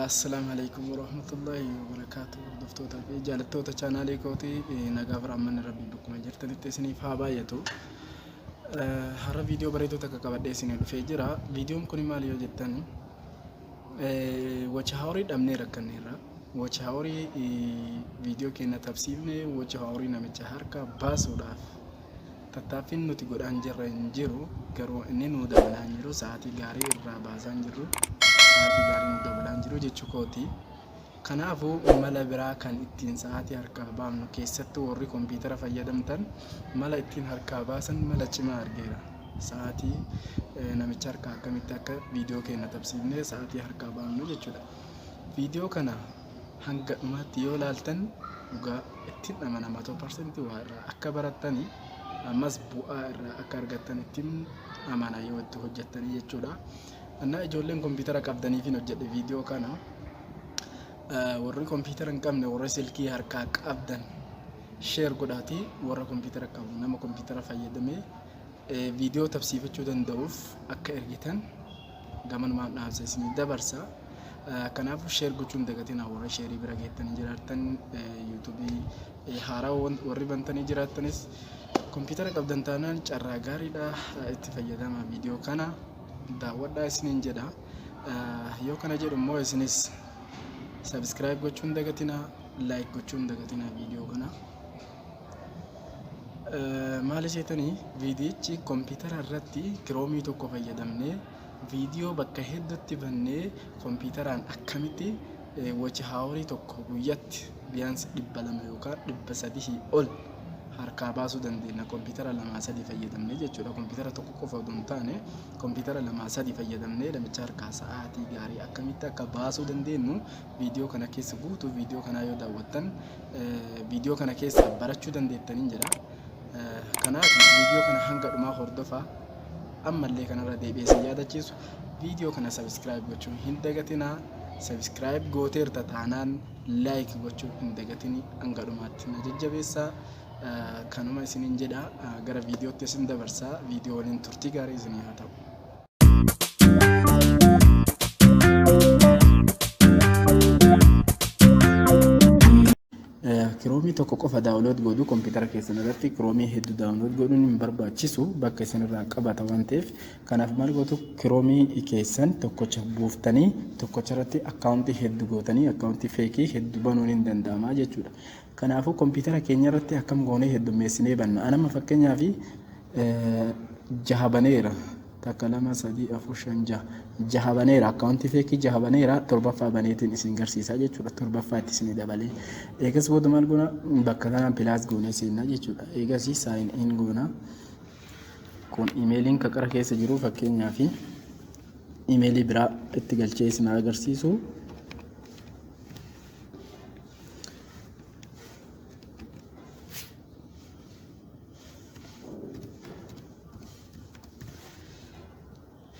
Assalaamu alaikum warahmatullahi wabarakaatu hordoftoota fi jaalattoota chaanaalii kooti nagaa fi raammanni rabbii bakkuma jirtanitti isiniif haa baay'atu. Har'a viidiyoo bareeduu takka qabadhee isinii dhufee jira. Viidiyoon kun maal yoo jettan wacha haaworii dhabnee rakkanneerra. Wacha haaworii viidiyoo keenya tabsiifne wacha haaworii namicha harka baasuudhaaf Tattaaffiin nuti godhaan jirre hin jiru garuu inni nuu dabalaa hin jiru sa'aatii gaarii irraa baasaa hin jirru sa'aatii gaarii nu dabalaa hin jiru jechuu kooti. Kanaafuu mala biraa kan ittiin sa'aatii harkaa baafnu keessattuu warri kompiitara fayyadamtan mala ittiin harkaa baasan mala cimaa argeera. Sa'aatii eh, namicha harkaa akkamitti akka viidiyoo keenya tabsiifnee sa'aatii harkaa baafnu jechuudha. Viidiyoo kana hanga dhumaatti yoo laaltan dhugaa ittiin amanama ta'u parsantii waa irraa akka barattanii ammas bu'aa irraa akka argattan ittiin amana yoo itti hojjettanii jechuudha. Annaa ijoolleen kompiitara qabdaniifin hojjedhe viidiyoo kana warri kompiitara hin qabne warri silkii harkaa qabdan sheer godhaati warra kompiitara qabu nama kompiitara fayyadamee viidiyoo tabsiifachuu danda'uuf akka ergitan gamanumaan dhaamsa isinii dabarsa kanaafuu sheer gochuu hin dagatinaa warra sheerii bira geettanii jiraattan yuutuubii haaraa warri bantanii jiraattanis kompiitara qabdan taanaan carraa gaariidha itti fayyadama viidiyoo kana daawwadhaa isiniin jedha yoo kana jedhu immoo isinis sabiskiraayib gochuu hin dagatinaa laayik gochuu hin dagatinaa viidiyoo kana. Maali seetanii viidiyichi kompiitara irratti kiroomii tokko fayyadamnee viidiyoo bakka hedduutti bannee kompiitaraan akkamitti wachi haaworii tokko guyyatti biyaansi dhibba lama yookaan dhibba sadihii ol harkaa baasuu dandeenya kompiitara lamaa sadii fayyadamnee jechuudha kompiitara tokko qofa odoo hin taane kompiitara lamaa sadii fayyadamnee namicha harkaa sa'aatii gaarii akkamitti akka baasuu dandeenyu Viidiyoo kana keessa guutuu viidiyoo kanaa yoo daawwattan viidiyoo kana keessaa barachuu dandeettaniin jedha. Kanaaf viidiyoo kana hanga dhumaa hordofaa ammallee kanarra deebi'ee si yaadachiisu viidiyoo kana sabiskiraayib gochuu hin dagatinaa. Sabiskiraayib gooteerta taanaan laayik gochuu hin dagatini hanga dhumaatti na jajjabeessaa. Kanuma isiniin jedha gara viidiyootti isin dabarsaa viidiyoo waliin turtii gaarii isinii haa ta'u. kiroomii tokko qofa daawunlood godhu kompiitara keessan irratti kiroomii hedduu daawunlood godhuun hin barbaachisu bakka isin irraa qabata waan ta'eef kanaaf maal gootu kiroomii keessan tokkocha buuftanii tokkocha irratti akkaawuntii hedduu gootanii akkaawuntii feekii hedduu banuun hin danda'ama jechuudha. Kanaafuu kompiitara keenya irratti akkam goonee heddummeessinee banna? An amma fakkeenyaaf jaha baneera. Takka lama sadii afur shan jaha. Jaha baneera akkaawuntii feekii jaha baneera torbaffaa baneetiin isin garsiisaa jechuudha. Torbaffaa itti isin dabalee. Eegas booda maal goona? Bakka kanaan pilaas goonee seennaa jechuudha. Eegas saayin in goona. Kun imeeliin kaqara keessa jiru fakkeenyaaf imeelii biraa itti galchee isin agarsiisu.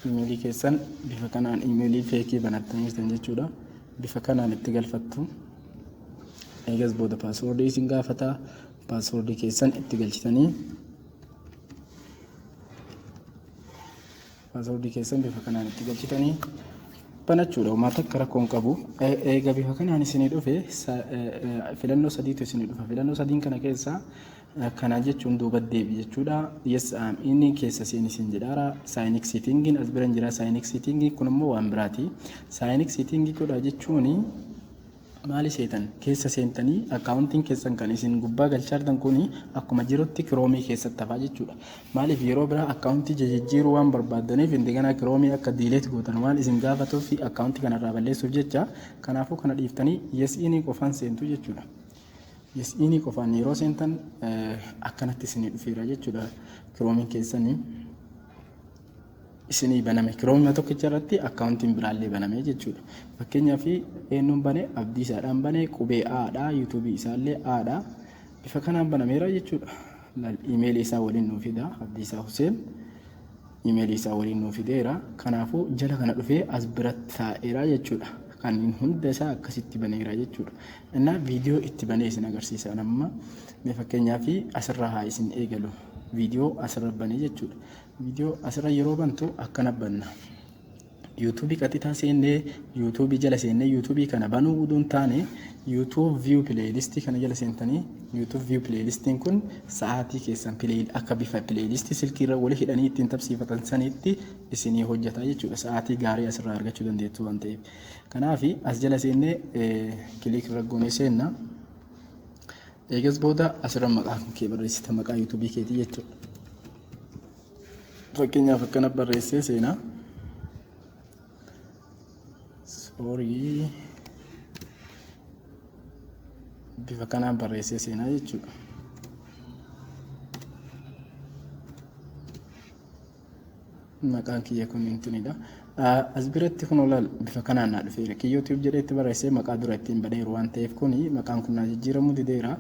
imeelii keessan bifa kanaan imeelii feekii banattanii jirtan jechuudha. Bifa kanaan itti galfattu. Eegas booda paaswoordii isin gaafata. Paaswoordii keessan itti galchitanii Password keessan bifa kanaan itti galchitanii banachuudha. Homaa takka rakkoo hin qabu. Eega bifa kanaan isinii dhufe filannoo sadiitu isinii dhufa. Filannoo sadiin kana keessaa kana jechuun duuba deebi jechuudha. Yes am inni keessa seen isin jedhaara. Saayinik siitingiin as bira hin jira. Saayinik siitingii kun immoo waan biraati. Saayinik siitingii godhaa jechuun Maali seetan? Keessa seentanii accounting keessan kan isin gubbaa galchaartan kuni akkuma jirutti kiroomii keessatti hafaa jechuudha. Maaliif yeroo biraa accountii jijijjiiruu waan barbaaddaniif indeganaa kiroomii akka diileet gootan waan isin gaafatuuf fi accountii kanarraa balleessuuf jecha kanaafuu kana dhiiftanii yes inii qofaan seentu jechuudha. Yes inii qofaan yeroo seentan akkanatti isinii dhufeera jechuudha kiroomiin keessanii. isinii baname kiroomima tokkicha irratti akkaawuntiin biraallee baname jechuudha. Fakkeenyaaf eenyuun bane abdiisaadhaan bane qubee aadha yuutuubii isaallee aadha bifa kanaan banameera jechuudha. Imeelii isaa waliin nuu fida abdiisaa Huseen imeelii isaa waliin nuu fideera. Kanaafuu jala kana dhufee as biratti taa'eera jechuudha. Kanneen hunda isaa akkasitti baneera jechuudha. Innaa viidiyoo itti banee isin agarsiisa amma fakkeenyaaf asirraa haa isin eegalu. viidiyoo asirra bane jechuudha. Viidiyoo asirra yeroo bantu akkana banna. YouTube qaxitaa seennee YouTube jala seennee YouTube kana banuu utuu hin taane YouTube view playlist kana jala seentanii YouTube view playlist kun sa'aatii keessan play akka bifa playlist silkii irra wal hidhanii ittiin tapsiifatan sanitti isinii hojjeta jechuudha. Sa'aatii gaarii asirraa argachuu dandeettu waan ta'eef. Kanaaf as jala seennee kiliik irra goonee seenna. Eegas booda asirra maqaa kee barreessita maqaa yuutuubii keetii jechuudha. Fakkeenyaaf akkana barreessee seenaa. Soorii bifa kanaan barreessee seenaa jechuudha. maqaan kiyya kun hin tunidha. As biratti kun olaal bifa kanaan naa dhufeera. Kiyyoo tube jedhee itti barreessee maqaa dura ittiin baneeru waan ta'eef kun maqaan kun naa jijjiiramuu dideera.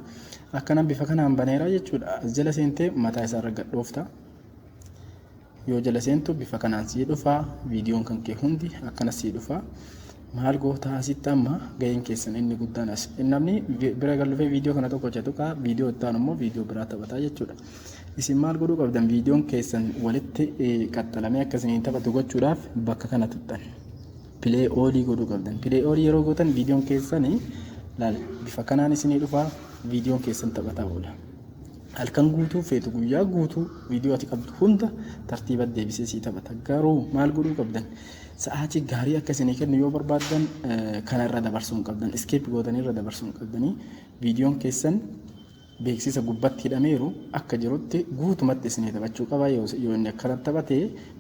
Akkana bifa kanaan baneera jechuudha. As jala seentee mataa isaarra gadhoofta. Yoo jala seentu bifa kanaan sii dhufa. Viidiyoon kan kee hundi akkana sii dhufa. Maal gootaa asitti amma ga'een keessan inni guddaan as. Namni bira gallufee viidiyoo kana tokko hojjetu kaa viidiyoo itti aanu immoo viidiyoo biraa taphataa jechuudha. Isin maal godhuu qabdan viidiyoon keessan walitti qaxxalamee akka isiniin taphatu gochuudhaaf bakka kana tuqxan. Pilee oolii godhuu qabdan. Pilee oolii yeroo gootan viidiyoon keessan laal bifa kanaan isinii dhufaa viidiyoon keessan taphataa oola. Halkan guutuu feetu guyyaa guutuu viidiyoo ati qabdu hunda tartiiba deebisee sii taphata. Garuu maal godhuu qabdan? Sa'aatii gaarii akka isinii kennu yoo barbaaddan kana irra dabarsuu hin qabdan. Iskeep gootanii irra dabarsuu hin qabdanii. Viidiyoon keessan beeksisa gubbatti hidhameeru akka jirutti guutumatti isinii taphachuu qaba yoo yoo inni akkanatti taphate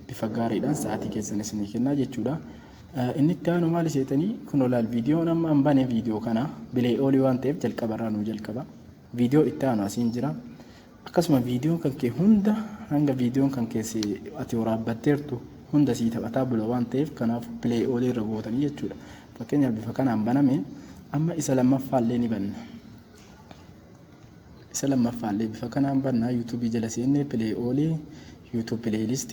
bifa gaariidhaan sa'aatii keessan isinii kennaa jechuudha. Eh, Inni itti aanu maali seetanii kun olaal viidiyoon amma an bane viidiyoo kana bilee oolii waan ta'eef jalqaba irraa nuu jalqaba. Viidiyoo itti aanu asiin jira. Akkasuma viidiyoon kan kee hunda hanga viidiyoon kan kee si- ati waraabbatteertu hunda sii taphataa bula waan ta'eef kanaaf bilee oolii irra gootanii jechuudha. Fakkeenyaaf bifa kanaan baname amma isa lammaffaa illee ni banna. Isa lammaffaallee bifa kanaan banna. YouTube jala seennee play all YouTube playlist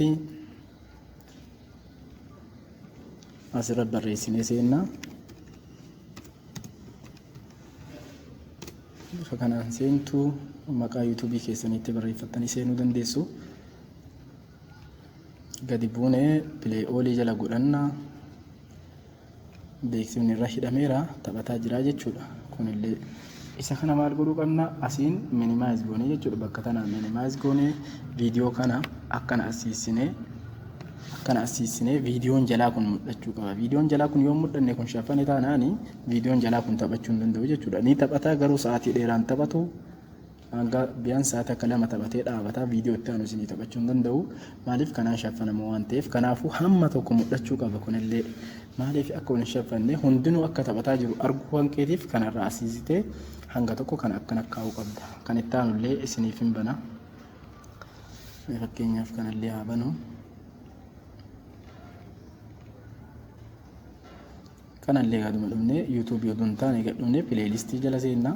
asirra barreessinee seenna. Bifa kanaan seentu maqaa YouTube keessaniitti barreeffattanii seenuu dandeessu. Gadi buunee play all jala godhanna. beeksifni irra hidhameera taphataa jiraa jechuudha kunillee isa kana maal godhuu qabna asiin minimize goonee jechuudha bakka tana minimize goonee viidiyoo kana akkana asiisinee akkana asiisinee viidiyoon jalaa kun mul'achuu qaba viidiyoon jalaa kun yoo mul'anne kun shaffane taanaani viidiyoon jalaa kun taphachuu hin danda'u jechuudha ni taphataa garuu sa'aatii dheeraan taphatu Hanga biyaan sa'aa takka lama taphatee dhaabata viidiyoo itti aanu isinii taphachuu hin danda'u. Maaliif kanaan shaffanamoo waan ta'eef kanaafuu hamma tokko mul'achuu qaba kunillee. Maaliif akka hin shaffanne hundinuu akka taphataa jiru arguu waan keetiif kanarraa asiisitee hanga tokko kan akkan akkaa'uu qabda. Kan itti aanullee isiniif hin bana. Fakkeenyaaf kanallee haa banu. Kanallee gaaduma dhumne yuutuubii oduu hin taane gadhumne pileelistii jala seennaa.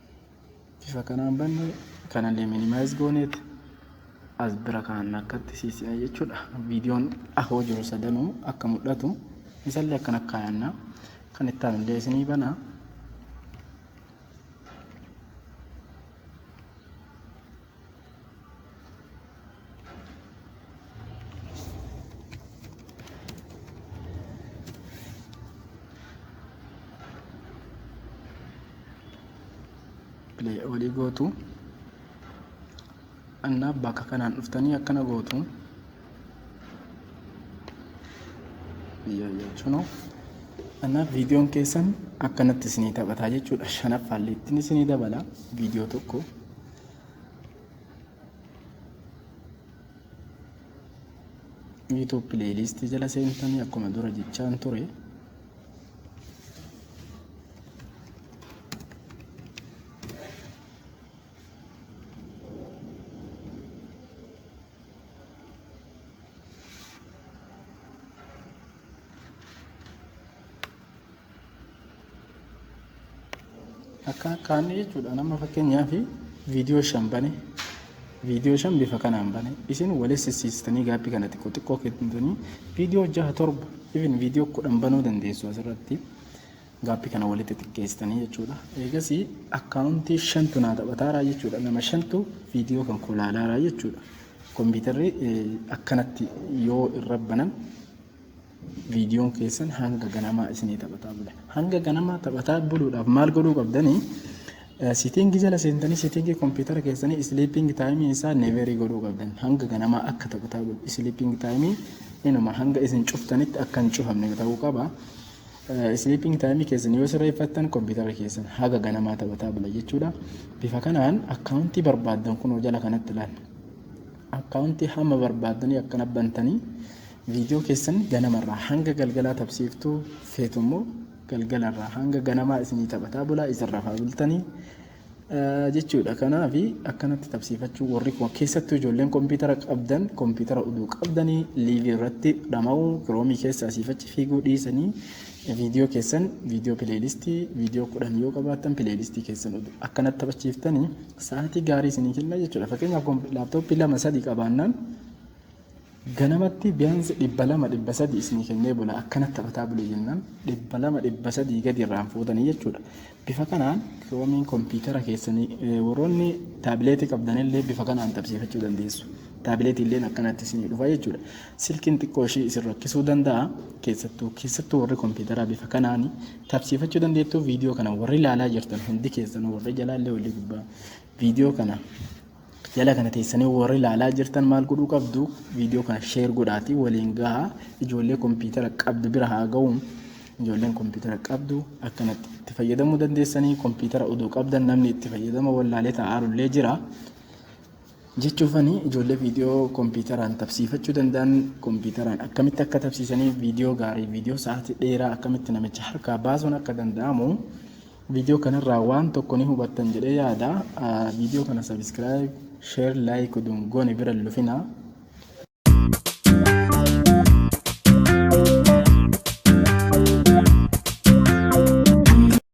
Bifa kanaan banne kanallee minimize gooneet as bira kaan akkatti siisina jechuudha. Viidiyoon ahoo jiru sadanuu akka mul'atu isallee akkana kaayanna. Kan itti aanullee isinii bana. olii gootu annaa bakka kanaan dhuftanii akkana gootu jechuun annaa viidiyoon keessan akkanatti isinii taphataa jechuudha shanaffaallee ittiin isinii dabala viidiyoo tokko YouTube playlist jala seentanii akkuma dura jechaan ture Akka kaanni jechuudha nama fakkeenyaaf viidiyoo shan bane viidiyoo shan bifa kanaan bane isin waliin sissiistanii gaabbii kana xiqqoo xiqqoo kennitanii viidiyoo jaha torba even viidiyoo kudhan banuu dandeessu asirratti gaabbii kana walitti xiqqeessitanii jechuudha. Eegas akkaawuntii shantu naa taphataaraa jechuudha nama shantu viidiyoo kan koo laalaaraa jechuudha. Kompiitarri akkanatti yoo irra banan Viidiyoon keessan hanga ganamaa isinii taphataa bule. Hanga ganamaa taphataa buluudhaaf maal godhuu qabdanii? Siitiingi jala seentanii siitiingi kompiitara keessanii isiliipingi taayimii isaa neeverii godhuu qabdan. Hanga ganamaa akka taphataa bulu. Isiliipingi taayimii inuma hanga isin cuftanitti akka hin cufamne ta'uu qaba. Isiliipingi taayimii keessan yoo sirreeffattan kompiitara keessan haga ganamaa taphataa bula jechuudha. Bifa kanaan akkaawuntii barbaaddan kunoo jala kanatti ilaalla. Akkaawuntii hamma barbaaddanii akkana bantanii Viidiyoo keessan ganama irraa hanga galgalaa tabsiiftuu feetu immoo galgala irraa hanga ganamaa isinii taphataa bulaa isin rafaa bultanii jechuudha. Kanaaf akkanatti tabsiifachuu warri koo keessattuu ijoolleen kompiitara qabdan kompiitara uduu qabdanii liivii irratti dhama'uu kiroomii keessa asiif achi fiiguu dhiisanii viidiyoo keessan viidiyoo pileelistii viidiyoo kudhan yoo qabaattan pileelistii keessan uduu akkanatti taphachiiftanii sa'aatii gaarii isinii kenna jechuudha. Fakkeenyaaf laaptooppii lama sadii qabaannaan Ganamatti biyansi 200, 300 isinii kennee bula. Akkanatti taphataa buli jennaan 200, 300 gadi irraan fuutanii jechuudha. Bifa kanaan kiroomiin kompiitara keessanii eh, warroonni taabileetii qabdanillee bifa kanaan taphsiifachuu dandeessu. Taabileetii illeen akkanatti isinii dhufa jechuudha. Silkiin xiqqoo ishii isin rakkisuu danda'a. Keessattuu keessattuu warri kompiitaraa bifa kanaan taphsiifachuu dandeettu. Viidiyoo kana warri ilaalaa jirtan hundi keessanuu warri jalaallee walii gubbaa viidiyoo kana Jala kana teessanii warri ilaalaa jirtan maal godhuu qabdu viidiyoo kana sheer godhaatii waliin gahaa ijoollee kompiitara qabdu bira haa ga'u ijoolleen kompiitara qabdu akkanatti itti fayyadamuu dandeessanii kompiitara odoo qabdan namni itti fayyadama wallaalee taa'aarullee jira. Jechuufani ijoollee viidiyoo kompiitaraan tabsiifachuu danda'an kompiitaraan akkamitti akka tabsiisanii viidiyoo gaarii viidiyoo sa'aatii dheeraa akkamitti namicha harkaa baasuun akka danda'amu Video kanarraa waan tokko ni hubattan jedhee yaada. Video kana subscribe, share, like oduun goone bira hin lufinaa.